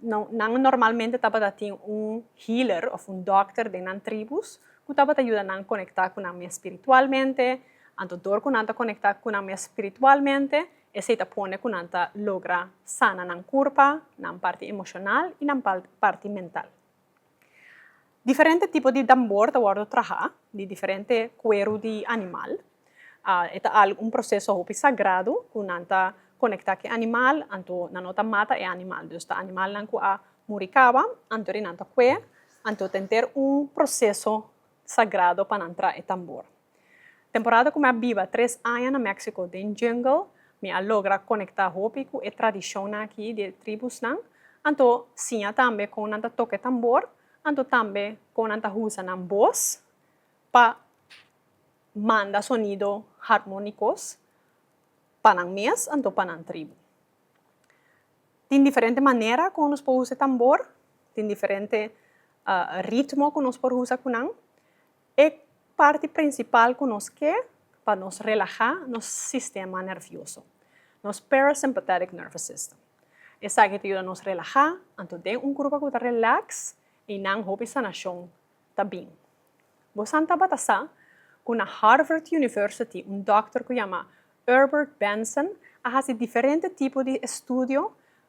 Nan normalmente tabata tin un healer òf un dòkter den nan tribus ku tabata yuda nan konektá ku nan mes spiritualmente. Anto dor ku nan ta konektá ku nan mes spiritualmente, esei ta pone ku nan ta logra sana nan kurpa, nan parti emoshonal i nan parti mental. Diferente tipo di tambor ta wòrdu trahá di diferente kueru di animal. E ta al un proseso hopi sagradu ku nan ta konektá ku e animal, anto nan no ta mata e animal. Dus ta animalnan ku a muri kaba, anto ri nan ta kue, anto ta henter un proseso sagrado pa nan traha e tambor. Temporada ku mi a biba tres aña na México den jungle, mi a logra konektá hopi ku e tradishonnan aki di e tribusnan, anto siña tambe kon nan ta toka e tambor, anto tambe kon nan ta usa nan bos pa manda sonido harmónikos pa nan mes anto pa nan tribu. Tin diferente manera kon nos por usa e tambor, tin diferente ritmo ku nos por usa ku nan, E parti prinsipal ku nos ke pa nos relahá nos sistema nervioso, nos parasympathetic nervous system. Esaki ta yuda nos relahá, anto den un grupo ku ta relax i nan hopi sanashon ta bin. Bo san tabata sa ku na Harvard University un dòkter ku yama Erbert Benson a hasi diferente tipo di estudio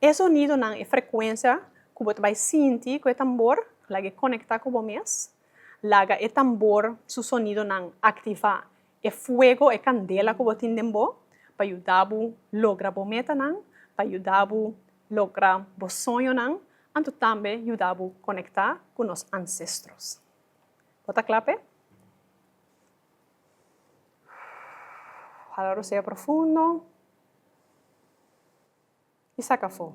E sonidonan, e frekuensia ku bo ta bai sinti ku e tambor, laga e konektá ku bo mes. Laga e tambor su sonidonan aktivá e fuego, e kandela ku bo tin den bo, pa yuda bo logra bo metanan, pa yuda bo logra bo soñonan, anto tambe yuda bo konektá ku nos ansestros. Bo ta kla p'e? Hala rosea profundo y saca afo.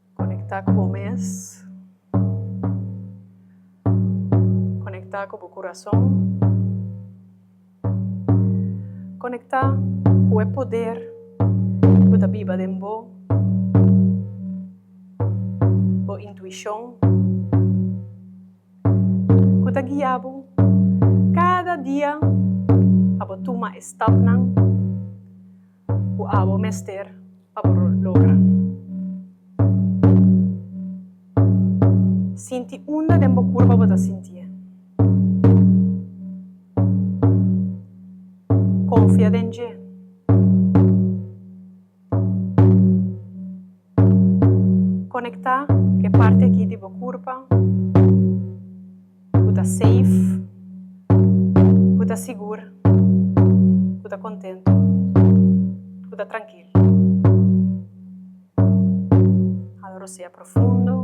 Conecta cu bo mes. Conecta cu bo curason. Conecta cu e poder cu ta biba den bo, bo intuicion cu ta guia bo cada dia pa bo tuma e stapnan. ku abo mester pa bo logra. Sinti unda den bo kurpa bo ta sintié. Konfia den Dje. Konektá ku e parti aki di bo kurpa. Ku ta seif. Ku ta sigur. Ku ta kontentu. Ku ta trankil. Hala rosea profundo.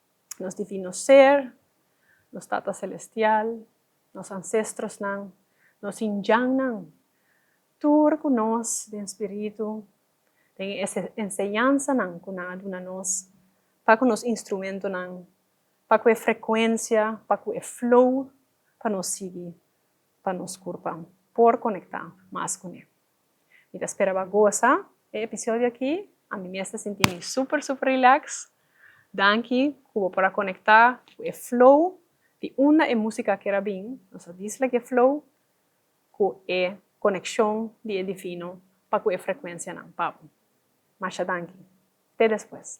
nos Divino Ser, nos Tata Selestial, nos ansestrosnan, nos hinjannan, tur ku nos den spiritu, den e enseñansanan ku nan a duna nos, ta ku nos instrumentonan pa ku e frekuensia, pa ku e flow pa nos sigui, pa nos kurpa por konektá mas kuné. Mi ta spera bo a goza e episodio aki. Ami mes ta sinti mi super super relax. Danki cu bo por a conecta cu e flow di unda e musica a ker a bin. Nos a disla ki e flow cu e coneccion di e Divino pa cu e frecuencianan pa bo. Masha danki. Te despues.